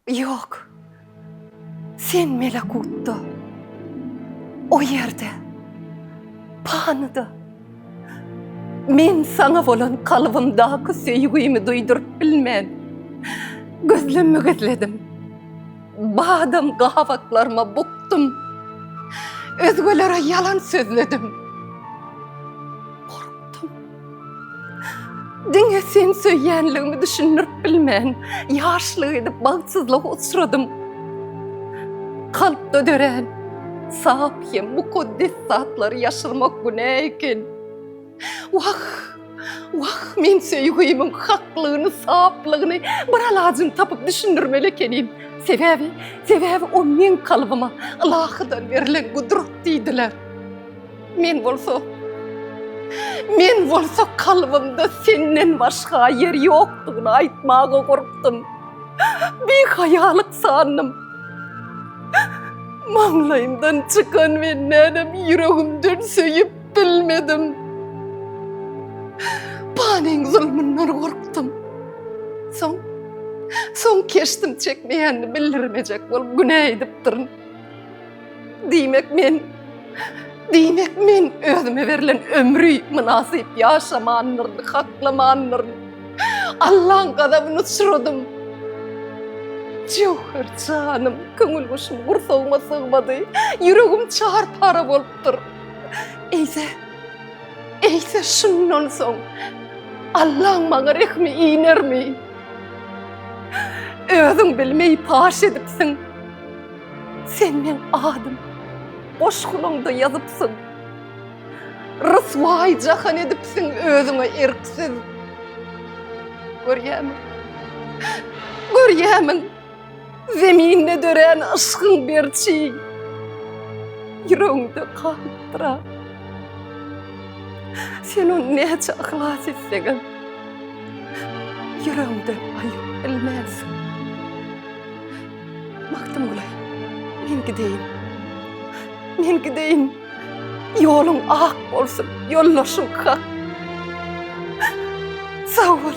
Ýok. Sen melekutda, o ýerde, panyda men saňa bolan kalbymdaky söýgimi duýduryp bilmen, gözlemi gizledim. Badam gabaklaryma bukdum. Özgelere ýalan sözledim. Gorkdum. Diňe sen söýýänligimi düşündirip bilmän, ýaşlyk edip bagtsyzlyga uçradym. Kalpda dörän sap hem mukaddes zatlary ýaşyrmak günä eken. Wah, wah, men söýgümiň haklygyny, saplygyny bir alajyny tapyp düşündirmeli ekenim. Sebäbi, sebäbi o meň kalbyma Ylahydan berlen gudrat diýdiler. Men bolsa, men bolsa kalbymda senden başga ýer ýokdugyny aýtmaga gorkdum. Bihaýalyk sandym. Maňlaýymdan çykan we nädem ýüregimden söýüp bilmedim. Panyň zulmundan gorkdum. Soň, soň keşdim çekmeýänini bildirmejek bolup günä edipdirin. Diýmek men, diýmek men özüme berlen ömri mynasyp ýaşamandyryn, haklamandyryn. Allaň gazabyny uçradym. Jöwher janym, köňül guşum gursagyma sygmady. Ýüregim çar-para bolupdyr. Eýse, eýse şundan soň Allaň maňa rehmi inermi? Özüň bilmeý paş edipsiň. Sen meň adym goşgunyňda ýazypsyň. Ryswaý jahan edipsiň özüňe erksiz. Görýämiň? Görýämiň? Zeminde dörän yşkyň berçi ýüregiňde galypdyr. Sen ony näçe yhlas etseňem ýüregiňden aýyryp bilmersiň. Magtymguly, men gideýin. Men gideýin. Ýoluň ak bolsun, ýoldaşym Hak. Sag bol.